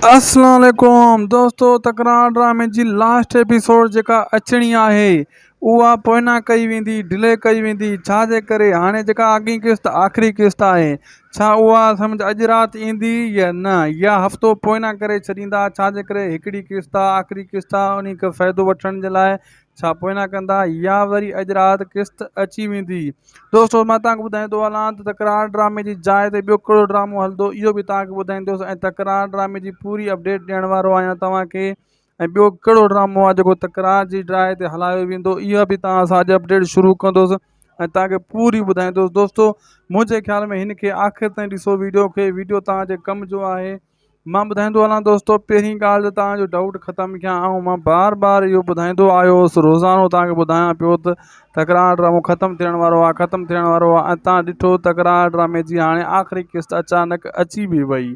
اسلام عليڪم دوستو تڪرار ڊرامي جي لاسٽ ايپيسوڊ جيڪا اچڻي آهي اها پوئنا ڪئي ويندي ڊلي ڪئي ويندي ڇا جي ڪري هاڻي جيڪا اڳين قسط آخري قسط آهي ڇا اها سمجهه اڄ رات ايندي يا نه يا هفتو پوئنا ڪري ڇڏيندا ڇا جي ڪري هڪڙي قسط آخري قسط انهي کي فائدو وٺڻ جي لاء ڇا پوء نه ڪندا يا وري اڄ رات قسط اچي ويندي. دوستو مان توهان کي ٻڌائيندو هلان ته تڪرار ڊرامي جي جاء تي ٻيو ڪهڙو ڊرامو هلندو اهو به توهان کي ٻڌائيندوس ۽ تڪرار ڊرامي جي پوري اپڊيٽ ڏيڻ وارو آهيان توهان کي ۽ ٻيو ڪهڙو ڊرامو آهي جيڪو تڪرار جي ڊراء تي هلايو ويندو اها به توهان سان اڄ اپڊيٽ شروع ڪندوس ۽ توهان کي پوري ٻڌائيندوس دوستو منهنجي خيال ۾ هن کي آخر تائين ڏسو ويڊيو کي ويڊيو توهان جي ڪم جو آهي. مان ٻڌائيندو هلان دوستو پهرين ڳالهه ته توهان جو ڊائوٽ ختم ڪيان آئون مان بار بار اهو ٻڌائيندو آيو هوس روزانو توهان کي ٻڌايان پيو ته تڪرار ڊرامو ختم ٿيڻ وارو آهي ختم ٿيڻ وارو آهي ۽ توهان ڏٺو تڪرار ڊرامي جي هاڻي آخري قسط اچانڪ اچي به وئي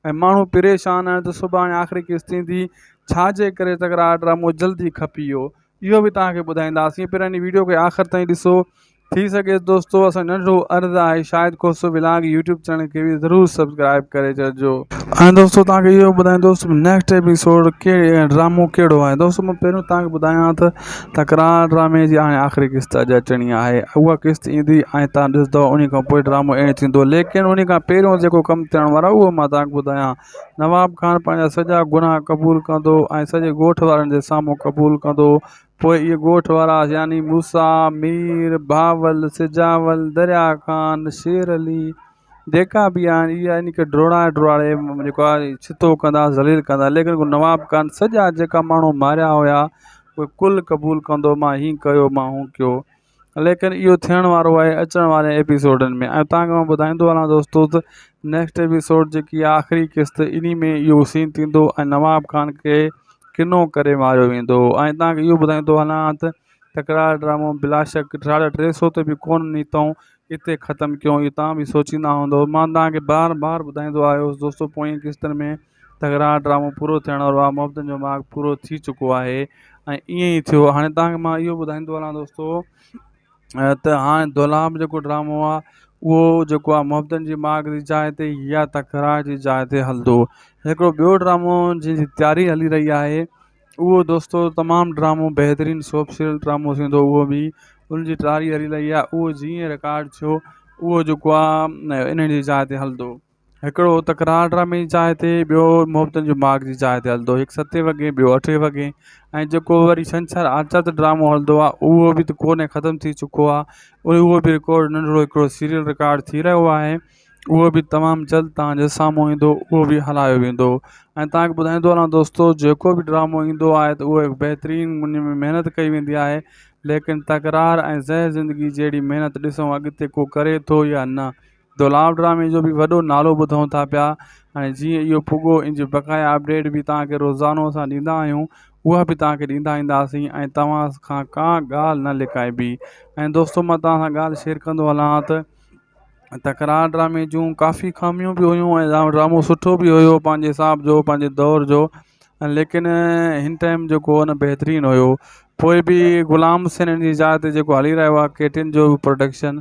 ۽ ماڻهو پريشان آهن ته سڀاڻي آخري قسط ايندي ڇا جي ڪري تڪرار ڊرامو جلدي کپي ويو اهو به توهان کي ٻڌائينداسين پر هن ويڊيو کي آخر تائين ڏسو ٿي سگهي دوستو اسان ننڍو عرض آهي Shahid Khoso vlog YouTube channel کي به ضرور سبسڪرائب ڪري ڇڏجو ۽ دوستو توهان کي اهو ٻڌائين دوست نيڪسٽ ايپيسوڊ ڪهڙي ڊرامو ڪهڙو آهي دوستو مان پهريون توهان کي ٻڌايان ته تڪرار ڊرامي جي هاڻي آخري قسط اڄ اچڻي آهي اها قسط ايندي ۽ توهان ڏسندو ان کان پوء ڊرامو اينڊ ٿيندو ليڪن ان کان پهريون جيڪو ڪم ٿيڻ وارو آهي اهو مان توهان کي ٻڌايان نواب خان پنهنجا سڄا گناهه قبول ڪندو ۽ سڄي ڳوٺ وارن جي سامهون قبول ڪندو. پوء اهي ڳوٺ وارا يعني موسيٰ، مير، بهاول، سجاول، دريا خان، شير علي، جيڪا به آهن اهي يعني کي ڊوڙائي ڊوڙائي جيڪو آهي ڇتو ڪندا ذليل ڪندا ليڪن هو نواب خان سڄا جيڪا ماڻهو ماريا هيا اهي ڪل قبول ڪندو مان هين ڪيو مان هون ڪيو. ليڪن اهو ٿيڻ وارو آهي اچڻ واري ايپيسوڊن ۾ ۽ تان کي مان ٻڌائيندو هلان دوستو ته نيڪسٽ ايپيسوڊ جيڪي آهي آخري قسط انهي ۾ اهو سين ٿيندو ۽ نواب خان کي ڪنو ڪري ماريو ويندو ۽ تان کي اهو ٻڌائيندو هلان ته تڪرار ڊرامو بلا شڪ ساڍا ٽي سو تي به ڪونه نيتئون اتي ختم ڪيئون اهو توهان به سوچيندا هوندئو مان تان کي بار بار ٻڌائيندو آيو هوس دوستو پوئين قسطن ۾ تڪرار ڊرامو پورو ٿيڻ وارو آ محبتن جو ماڳ پورو ٿي چڪو آهي ۽ ائين ئي ٿيو هاڻي تان کي مان اهو ٻڌائيندو هلان دوستو ته هاڻي دولاب جيڪو ڊرامو آ اهو جيڪو آ محبتن جي ماڳ جي جاء تي يا تڪرار جي جاء تي هلندو هڪڙو ٻيو ڊرامو جنهن جي تياري هلي رهي آهي اهو دوستو تمام ڊرامو بهترين سوپ سيريل ڊرامو ٿيندو اهو به ان جي تياري هلي رهي آ اهو جيئن رڪارڊ ٿيو اهو جيڪو آ انهن جي جاء تي هلندو هڪڙو تڪرار ڊرامي جي جاء تي ٻيو محبتن جو ماڳ جي جاء تي هلندو هڪ ستين وڳي ٻيو اٺين وڳي ۽ جيڪو وري ڇنڇر آچر تي ڊرامو هلندو آهي اهو به ته ڪو نه ختم ٿي چڪو آهي اهو به رڪارڊ ننڍڙو هڪڙو سيريل رڪارڊ ٿي رهيو آهي اهو به تمام جلد تهان جي سامهون ايندو اهو به هلايو ويندو ۽ تهان کي ٻڌائيندو رهان دوستو جيڪو به ڊرامو ايندو آهي ته اهو بهترين ان ۾ محنت ڪئي ويندي آهي ليڪن تڪرار ۽ زهر زندگي جهڙي محنت ڏسون اڳتي ڪو ڪري ٿو يا نه دولاب ڊرامي جو بي وڏو نالو ٻڌون ٿا پيا ۽ جيئن اهو پڳو ان جي بقايا اپڊيٽ به توهان کي روزانو اسان ڏيندا آهيون اها به توهان کي ڏيندا اينداسين ۽ توهان کان ڪا ڳالهه نه لڪائبي ۽ دوستو مان توهان سان ڳالهه شيئر ڪندو هلان ها ته تڪرار ڊرامي جون ڪافي خاميون به هيون ۽ ڊرامو سٺو به هيو پنهنجي حساب جو پنهنجي دور جو ليڪن هن ٽائيم جيڪو هو بهترين هيو پوء به غلام حسين جي جاء تي جيڪو هلي رهيو آهي ڪيٽن جو پروڊڪشن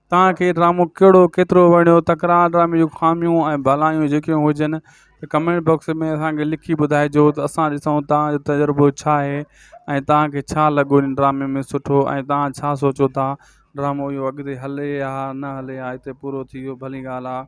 توهان کي هي ڊرامو ڪهڙو ڪيترو وڻيو تڪرار ڊرامي جون خاميون ۽ ڀلائيون جيڪيون هجن ته ڪمينٽ باڪس ۾ اسان کي لکي ٻڌائجو ته اسان ڏسون توهان جو تجربو ڇا آهي ۽ توهان کي ڇا لڳو ان ڊرامي ۾ سٺو ۽ توهان ڇا سوچو ٿا ڊرامو اهو اڳتي هلي يا نه هلي يا هتي پورو ٿي ويو ڀلي ڳالهه آهي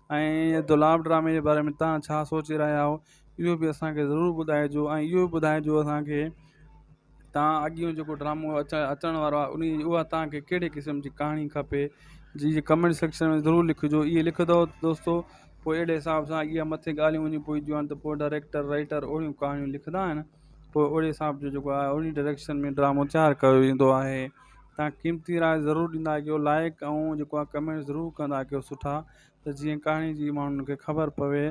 ۽ دولاب ڊرامي جي باري ۾ تها ڇا سوچي رهيا آهيو اهو به اسانکي ضرور ٻڌائجو ۽ اهو به ٻڌائجو اسانکي تها اڳيون جيڪو ڊرامو اچا اچڻ وارو آهي انهي جي اها تها کي ڪهڙي قسم جي ڪهاڻي کپي جي جي ڪمينٽ سيڪشن ۾ ضرور لکجو اهي لکندو دوستو پوء اهڙي حساب سان اهي مٿي ڳالهيون وڃي پونديون آهن ته پوء ڊائريڪٽر رائيٽر اهڙيون ڪهاڻيون لکندا آهن پوء اهڙي حساب جو جيڪو آهي انهي ڊائريڪشن ۾ ڊرامو تيار ڪيو ويندو آهي تان قيمتي راء ضرور ڏيندا ڪيو لائڪ ۽ جيڪو آ ڪمينٽ ضرور ڪندا ڪيو سٺا ته جيئن ڪهاڻي جي ماڻهن کي خبر پوي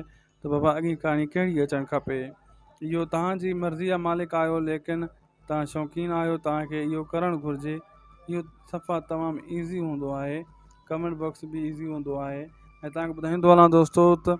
ته بابا اڳين ڪهاڻي ڪهڙي اچڻ کپي اهو تهان جي مرضي جا مالڪ آهيو ليڪن تهان شوقين آهيو تهان کي اهو ڪرڻ گهرجي اهو صفا تمام ايزي هوندو آهي ڪمينٽ باڪس به ايزي هوندو آهي ۽ تهان کي ٻڌائيندو هلان دوستو ته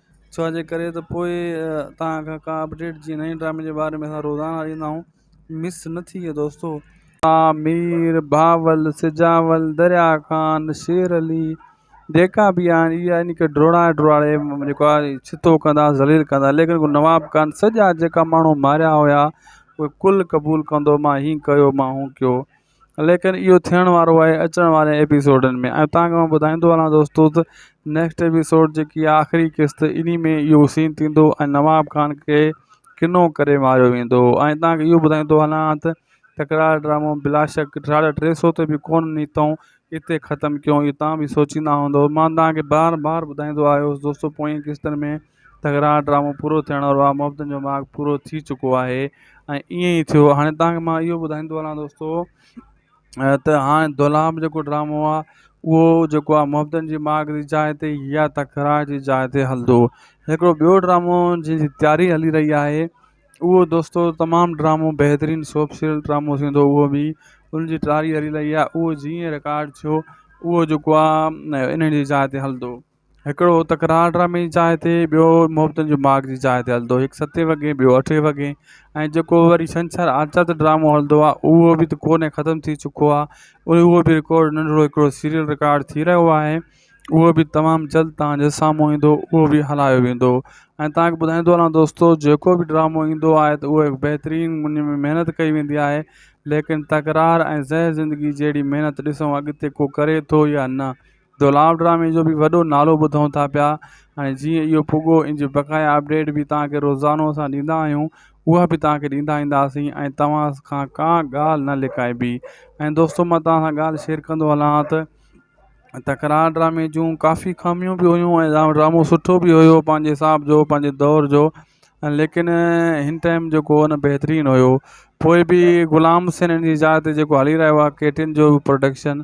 ڇا جي ڪري ته پوء توهان کان ڪا اپڊيٽ جي نئين ڊرامي جي باري ۾ اسان روزانه ڏيندا آهيون مس نه ٿي ڪي دوستو. عامر، بهاول، سجاول، دريا خان، شير علي جيڪا به آهن اهي يعني ڪي ڊوڙائي ڊوڙائي جيڪو آهي ڇتو ڪندا ذليل ڪندا ليڪن ڪو نواب ڪانه سڄا جيڪا ماڻهو ماريا هيا اهي ڪل قبول ڪندو مان هي ڪيو مان هو ڪيو ليڪن اهو ٿيڻ وارو آهي اچڻ واري ايپيسوڊن ۾ ۽ تان کان ٻڌائيندو هلان دوستو ته نيڪسٽ ايپيسوڊ جيڪي آهي آخري قسط انهي ۾ اهو سين ٿيندو ۽ نواب خان کي ڪنو ڪري ماريو ويندو ۽ تان کي اهو ٻڌائيندو هلان ته تڪرار ڊرامو بلا شڪ ساڍا ٽي سو تي به ڪونه نيتئون اتي ختم ڪيئون اهو تان به سوچيندا هوندئو مان تان کي بار بار ٻڌائيندو آيو هوس دوستو پوئين قسطن ۾ تڪرار ڊرامو پورو ٿيڻ وارو آ محبتن جو ماڳ پورو ٿي چڪو آهي ۽ ائين ئي ٿيو هاڻي تانکي مان اهو ٻڌائيندو هلان دوستو ته هاڻي دولاب جيڪو ڊرامو آ اهو جيڪو آ محبتن جي ماڳ جي جاء تي يا تڪرار جي جاء تي هلندو هڪڙو ٻيو ڊرامو جنهن جي تياري هلي رهي آهي اهو دوستو تمام ڊرامو بهترين سوپ سيريل ڊرامو ٿيندو اهو به ان جي تياري هلي رهي آ اهو جيئن رڪارڊ ٿيو اهو جيڪو آ انهن جي جاء تي هلندو هڪڙو تڪرار ڊرامي جي جاء تي، ٻيو محبتن جي ماڳ جي جاء تي هلندو، هڪ ستين وڳي ٻيو اٺين وڳي ۽ جيڪو وري ڇنڇر آرتوار تي ڊرامو هلندو آهي اهو به ته ڪو نه ختم ٿي چڪو آهي اهو به رڪارڊ ننڍڙو هڪڙو سيريل رڪارڊ ٿي رهيو آهي اهو به تمام جلد توهان جي سامهون ايندو اهو به هلايو ويندو ۽ توهان کي ٻڌائيندو هلان دوستو جيڪو به ڊرامو ايندو آهي ته اهو بهترين ان ۾ محنت ڪئي ويندي آهي ليڪن تڪرار ۽ زهر زندگي جهڙي محنت ڏسون اڳتي ڪو ڪري ٿو يا نه دولاب ڊرامي جو به وڏو نالو ٻڌون ٿا پيا ۽ جيئن اهو پڳو ان جي بقايا اپڊيٽ به توهان کي روزانو اسان ڏيندا آهيون اها به توهان کي ڏيندا اينداسين ۽ توهان کان ڪا ڳالهه نه لڪائبي ۽ دوستو مان توهان سان ڳالهه شيئر ڪندو هلان ها ته تڪرار ڊرامي جون ڪافي خاميون به هيون ۽ ڊرامو سٺو به هيو پنهنجي حساب جو پنهنجي دور جو ليڪن هن ٽائيم جيڪو هو نه بهترين هيو پوء به غلام حسين جي جاء تي جيڪو هلي رهيو آهي ڪيٽن جو پروڊڪشن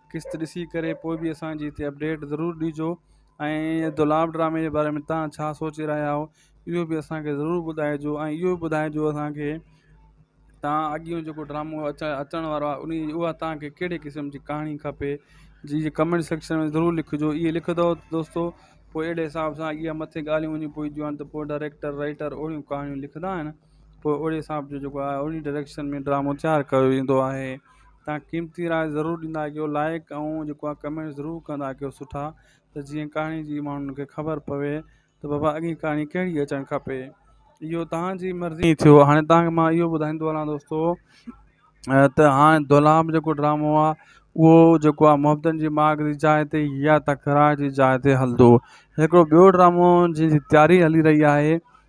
قسط ڏسي ڪري پوء به اسان جي هتي اپڊيٽ ضرور ڏجو ۽ دولاب ڊرامي جي باري ۾ تان ڇا سوچي رهيا هو اهو به اسانکي ضرور ٻڌائجو ۽ اهو به ٻڌائجو اسانکي تان اڳيون جيڪو ڊرامو اچا اچڻ وارو آهي انهي جي اها تان کي ڪهڙي قسم جي ڪهاڻي کپي جي جي ڪمينٽ سيڪشن ۾ ضرور لکجو اهي لکندو دوستو پوء اهڙي حساب سان اهي مٿي ڳالهيون وڃي پوئجيون آهن ته پوء ڊائريڪٽر رائيٽر اهڙيون ڪهاڻيون لکندا آهن پوء اهڙي حساب جو جيڪو آهي انهي ڊائريڪشن ۾ ڊرامو تيار ڪيو ويندو آهي تان قيمتي راء ضرور ڏيندا ڪيو لائڪ ۽ جيڪو آ ڪمينٽ ضرور ڪندا ڪيو سٺا ته جيئن ڪهاڻي جي ماڻهن کي خبر پوي ته بابا اڳين ڪهاڻي ڪهڙي اچڻ کپي اهو تهانجي مرضي ٿيو هاڻي تهانکي مان اهو ٻڌائيندو هلان دوستو ته هاڻي دولاب جيڪو ڊرامو آ اهو جيڪو آ محبتن جي ماڳ جي جاء تي يا تڪرار جي جاء تي هلندو هڪڙو ٻيو ڊرامو جنهن جي تياري هلي رهي آهي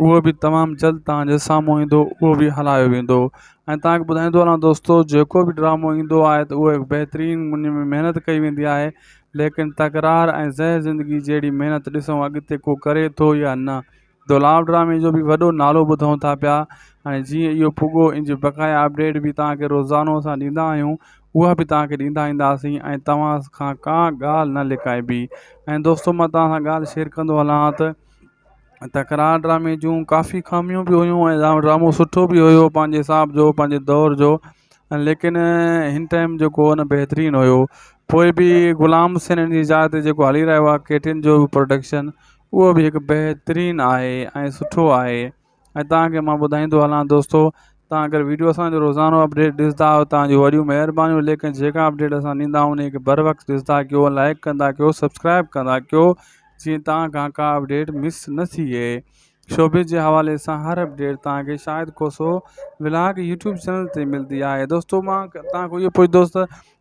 اهو به تمام جلد توهان جي سامهون ايندو اهو به هلايو ويندو ۽ توهان کي ٻڌائيندو هلان دوستو جيڪو به ڊرامو ايندو آهي ته اهو هڪ بهترين ان ۾ محنت ڪئي ويندي آهي ليڪن تڪرار ۽ زهر زندگي جهڙي محنت ڏسون اڳتي ڪو ڪري ٿو يا نه دولاب ڊرامي جو به وڏو نالو ٻڌون ٿا پيا ۽ جيئن اهو پڳو ان جي بقايا اپڊيٽ به توهان کي روزانو اسان ڏيندا آهيون اها به توهان کي ڏيندا اينداسين ۽ توهان کان ڪا ڳالهه نه لڪائبي ۽ دوستو مان توهان سان ڳالهه شيئر ڪندو هلان ها ته تڪرار ڊرامي جون ڪافي خاميون بي هيون ۽ ڊرامو سٺو بي هيو پنهنجي حساب جو پنهنجي دور جو ليڪن هن ٽائم جيڪو هن بهترين هيو پوء بي غلام حسين جي جاء تي جيڪو هلي رهيو آهي ڪيٽن جو پروڊڪشن اهو بي هڪ بهترين آهي ۽ سٺو آهي ۽ توهان کي مان ٻڌائيندو هلان دوستو توهان اگر ويڊيو اسان جو روزانو اپڊيٽ ڏسندا آهيو توهان جون وڏيون مهربانيون ليڪن جيڪا اپڊيٽ اسان ڏيندا آهيون انهي کي بر وقت ڏسندا ڪيو لائڪ ڪندا ڪيو سبسڪرائب ڪندا ڪيو جيئن توهان کان ڪا اپڊيٽ مس نه ٿئي شوبز جي حوالي سان هر اپڊيٽ توهان کي Shahid Khoso vlog YouTube channel تي ملدي آهي دوستو مان توهان کان اهو پڇ دوست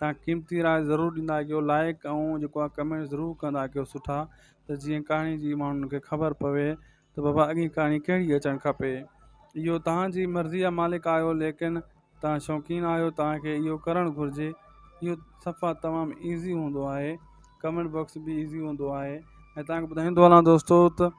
تان قيمتي راء ضرور ڏيندا ڪيو لائڪ ۽ جيڪو آ ڪمينٽ ضرور ڪندا ڪيو سٺا ته جيئن ڪهاڻي جي ماڻهن کي خبر پوي ته بابا اڳي ڪهاڻي ڪهڙي اچڻ کپي اهو تهانجي مرضي آ مالڪ آهيو ليڪن تان شوقين آهيو تانکي اهو ڪرڻ گهرجي اهو صفا تمام ايزي هوندو آهي ڪمينٽ باڪس به ايزي هوندو آهي ۽ تانکي ٻڌائيندو هلان دوستو ته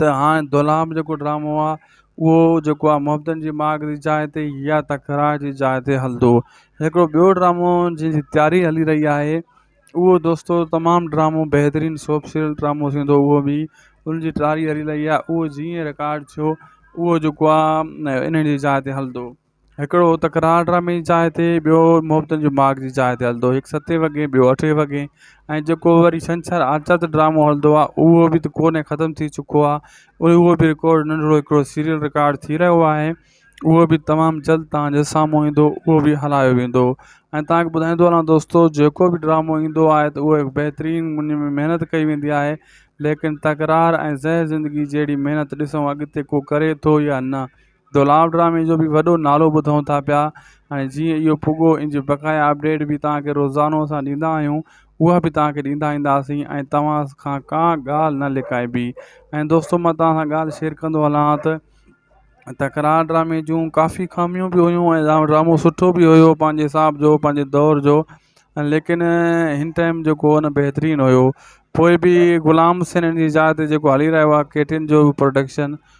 ته هاڻي دولهام جيڪو ڊرامو آهي اهو جيڪو آهي محبتن جي ماڳ جي جاء تي يا تڪرار جي جاء تي هلندو هڪڙو ٻيو ڊرامو جنهن جي تياري هلي رهي آهي اهو دوستو تمام ڊرامو بهترين سوپ سيريل ڊرامو ٿيندو اهو به ان جي تياري هلي رهي آهي اهو جيئن رڪارڊ ٿيو اهو جيڪو آهي انهن جي جاء تي هلندو هڪڙو تڪرار ڊرامي جي جاء تي، ٻيو محبتن جي ماڳ جي جاء تي هلندو، هڪ ستين وڳي ٻيو اٺين وڳي ۽ جيڪو وري ڇنڇر آرتوار تي ڊرامو هلندو آهي اهو به ته ڪونهي ختم ٿي چڪو آهي اهو به رڪارڊ ننڍڙو هڪڙو سيريل رڪارڊ ٿي رهيو آهي اهو به تمام جلد توهان جي سامهون ايندو اهو به هلايو ويندو ۽ توهان کي ٻڌائيندو هلان دوستو جيڪو به ڊرامو ايندو آهي ته اهو هڪ بهترين ان ۾ محنت ڪئي ويندي آهي ليڪن تڪرار ۽ زهر زندگي جهڙي محنت ڏسون اڳتي ڪو ڪري ٿو يا نه دولاب ڊرامي جو بي وڏو نالو ٻڌون ٿا پيا ۽ جيئن اهو پڳو ان جي بقايا اپڊيٽ به توهان کي روزانو اسان ڏيندا آهيون اها به توهان کي ڏيندا اينداسين ۽ توهان کان ڪا ڳالهه نه لڪائبي ۽ دوستو مان توهان سان ڳالهه شيئر ڪندو هلان ها ته تڪرار ڊرامي جون ڪافي خاميون به هيون ۽ ڊرامو سٺو به هيو پنهنجي حساب جو پنهنجي دور جو ليڪن هن ٽائم جيڪو هو بهترين هيو پوء به غلام حسين جي جاء تي جيڪو هلي رهيو آهي ڪيٽن جو پروڊڪشن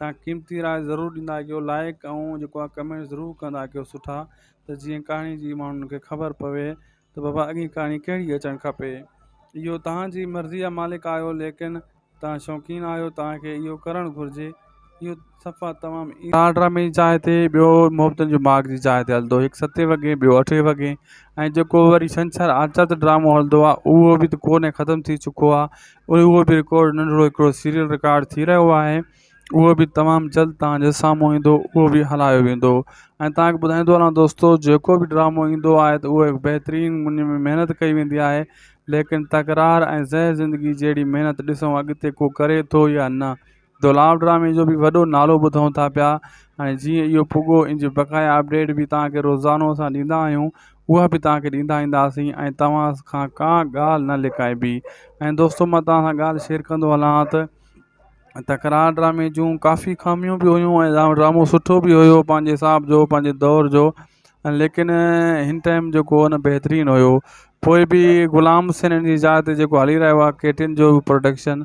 تان قيمتي راء ضرور ڏيندا ڪيو لائڪ ۽ جيڪو آ ڪمينٽ ضرور ڪندا ڪيو سٺا ته جيئن ڪهاڻي جي ماڻهن کي خبر پوي ته بابا اڳين ڪهاڻي ڪهڙي اچڻ کپي اهو توهان جي مرضي آ مالڪ آهيو ليڪن توهان شوقين آهيو توهان کي اهو ڪرڻ گهرجي اهو صفا تمام ٽار ڊرامي جي جاء تي ٻيو محبتن جو ماڳ جي جاء تي هلندو هڪ ستين وڳي ٻيو اٺين وڳي ۽ جيڪو وري ڇنڇر آچت ڊرامو هلندو آ اهو به ته ڪو نه ختم ٿي چڪو آ ۽ اهو به رڪارڊ ننڍڙو هڪڙو سيريل رڪارڊ ٿي رهيو آهي اهو به تمام جلد تهان جي سامهون ايندو اهو به هلايو ويندو ۽ تهان کي ٻڌائيندو هلان دوستو جيڪو به ڊرامو ايندو آهي ته اهو بهترين ان ۾ محنت ڪئي ويندي آهي ليڪن تڪرار ۽ زهر زندگي جهڙي محنت ڏسون اڳتي ڪو ڪري ٿو يا نه دولاب ڊرامي جو به وڏو نالو ٻڌون ٿا پيا ۽ جيئن اهو پڳو ان جي بقايا اپڊيٽ به تواهان کي روزانو اسان ڏيندا آهيون اها به تواهان کي ڏيندا اينداسين ۽ توهان کان ڪا ڳالهه نه لڪائبي ۽ دوستو مان توهان سان ڳالهه شيئر ڪندو هلان ته تڪرار ڊرامي جون ڪافي خاميون به هيون ۽ ڊرامو سٺو به هيو پنهنجي حساب جو پنهنجي دور جو ليڪن هن ٽائم جيڪو هو بهترين هيو پوء به غلام حسين جي جاء تي جيڪو هلي رهيو آهي ڪيٽن جو پروڊڪشن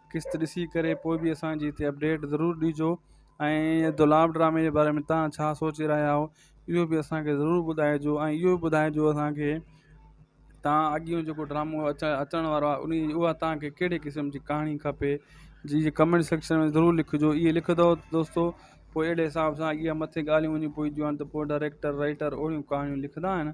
قسط ڏسي ڪري پوء به اسان جي هتي اپڊيٽ ضرور ڏجو ۽ دولاب ڊرامي جي باري ۾ تان ڇا سوچي رهيا هو اهو به اسانکي ضرور ٻڌائجو ۽ اهو به ٻڌائجو اسانکي تان اڳيون جيڪو ڊرامو اچا اچڻ وارو آهي انهي اها تانکي ڪهڙي قسم جي ڪهاڻي کپي جي جي ڪمينٽ سيڪشن ۾ ضرور لکجو اهي لکندو دوستو پوء اهڙي حساب سان اها مٿي ڳالهيون وڃي پونديون آهن ته پوء ڊائريڪٽر رائيٽر اهڙيون ڪهاڻيون لکندا آهن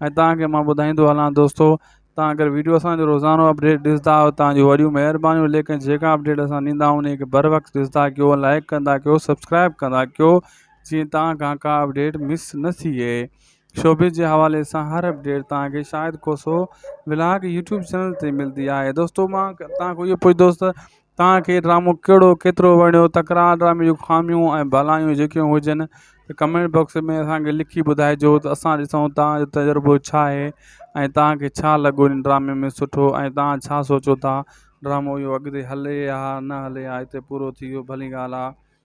۽ توهان کي مان ٻڌائيندو هلان دوستو توهان اگر ويڊيو اسان جو روزانو اپڊيٽ ڏسندا آهيو توهان جون وڏيون مهربانيون ليڪن جيڪا اپڊيٽ اسان ڏيندا آهيون انهي کي بر وقت ڏسندا ڪيو لائڪ ڪندا ڪيو سبسڪرائب ڪندا ڪيو جيئن توهان کان ڪا اپڊيٽ مس نه ٿئي شوبز جي حوالي سان هر اپڊيٽ توهان کي Shahid Khoso vlog YouTube channel تي ملدي آهي دوستو مان توهان کان اهو پڇ دوست توهان کي ڊرامو ڪهڙو ڪيترو وڻيو تڪرار ڊرامي جون خاميون ۽ ڀلائيون جيڪيون هجن ته ڪمينٽ باڪس ۾ اسان کي لکي ٻڌائجو ته اسان ڏسون توهان جو تجربو ڇا آهي ۽ توهان کي ڇا لڳو ان ڊرامي ۾ سٺو ۽ توهان ڇا سوچو ٿا ڊرامو اهو اڳتي هلي يا نه هلي يا هتي پورو ٿي ويو ڀلي ڳالهه آهي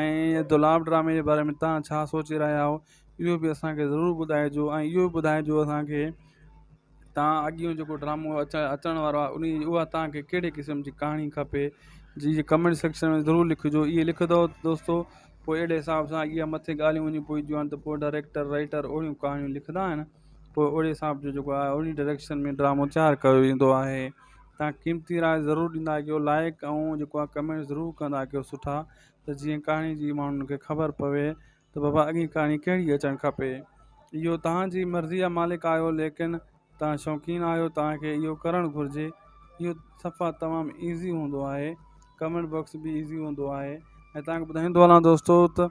۽ دولاب ڊرامي جي باري ۾ تان ڇا سوچي رهيا آهيو اهو به اسانکي ضرور ٻڌائجو ۽ اهو به ٻڌائجو اسانکي تان اڳيون جيڪو ڊرامو اچا اچڻ وارو آهي انهي جي اها تانکي ڪهڙي قسم جي ڪهاڻي کپي جي جي ڪمينٽ سيڪشن ۾ ضرور لکجو اهي لکندو دوستو پوء اهڙي حساب سان اهي مٿي ڳالهيون وڃي پوئجيون آهن ته پوء ڊائريڪٽر رائيٽر اهڙيون ڪهاڻيون لکندا آهن پوء اهڙي حساب جو جيڪو آهي اهڙي ڊائريڪشن ۾ ڊرامو تيار ڪيو ويندو آهي تان قيمتي راء ضرور ڏيندا ڪيو لائڪ ۽ جيڪو آ ڪمينٽ ضرور ڪندا ڪيو سٺا ته جيئن ڪهاڻي جي ماڻهن کي خبر پوي ته بابا اڳي ڪهاڻي ڪهڙي اچڻ کپي اهو تهان جي مرضي جا مالڪ آهيو ليڪن تهان شوقين آهيو تهان کي اهو ڪرڻ گهرجي اهو صفا تمام ايزي هوندو آهي ڪمينٽ باڪس به ايزي هوندو آهي ۽ تهان کي ٻڌائيندو هلان دوستو ته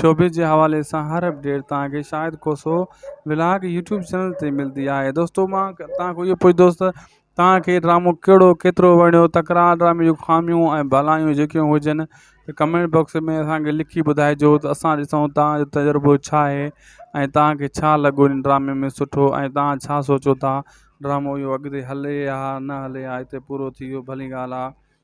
شعبي جي حوالي سان هر اپڊيٽ توهان کي Shahid Khoso vlog YouTube channel تي ملدي آهي دوستو مان توهان کان اهو پڇندوس ته توهان کي ڊرامو ڪهڙو ڪيترو وڻيو تڪرار ڊرامي جون خاميون ۽ ڀلائيون جيڪيون هجن ته ڪمينٽ باڪس ۾ اسان کي لکي ٻڌائجو ته اسان ڏسون توهان جو تجربو ڇا آهي ۽ توهان کي ڇا لڳو ان ڊرامي ۾ سٺو ۽ توهان ڇا سوچو ٿا ڊرامو اهو اڳتي هلي يا نه هلي يا هتي پورو ٿي ويو ڀلي ڳالهه آهي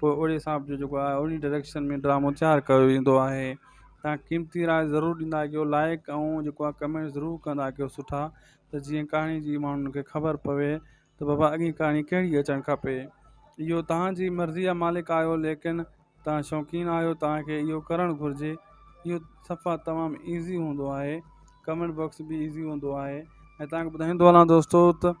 پوء اهڙي حساب جو جيڪو آهي اهڙي ڊريڪشن ۾ ڊرامو تيار ڪيو ويندو آهي تان قيمتي راء ضرور ڏيندا ڪيو لائق ۽ جيڪو آهي ڪمينٽ ضرور ڪندا ڪيو سٺا ته جيئن ڪهاڻي جي ماڻهن کي خبر پوي ته بابا اڳي ڪهاڻي ڪهڙي اچڻ کپي اهو تهانجي مرضي جا مالڪ آهيو ليڪن تهان شوقين آهيو تهانکي اهو ڪرڻ گهرجي اهو صفا تمام ايزي هوندو آهي ڪمينٽ باڪس به ايزي هوندو آهي ۽ تهانکي ٻڌائيندو هلان دوستو ته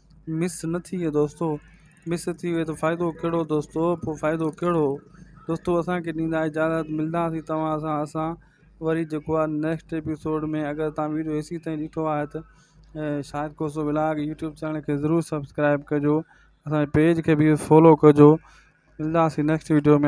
مس نه ٿي ويو دوستو. مس ٿي ويئي ته فائدو ڪهڙو دوستو پوء فائدو ڪهڙو دوستو اسان کي ڏيندا اجازت ملداسين توهان سان اسان وري جيڪو آهي نيڪسٽ ايپيسوڊ ۾ اگر توهان ويڊيو هيسين تائين ڏٺو آهي ته Shahid Khoso vlog YouTube channel کي ضرور سبسڪرائب ڪجو اسان جي پيج کي به فالو ڪجو ملداسين نيڪسٽ ويڊيو ۾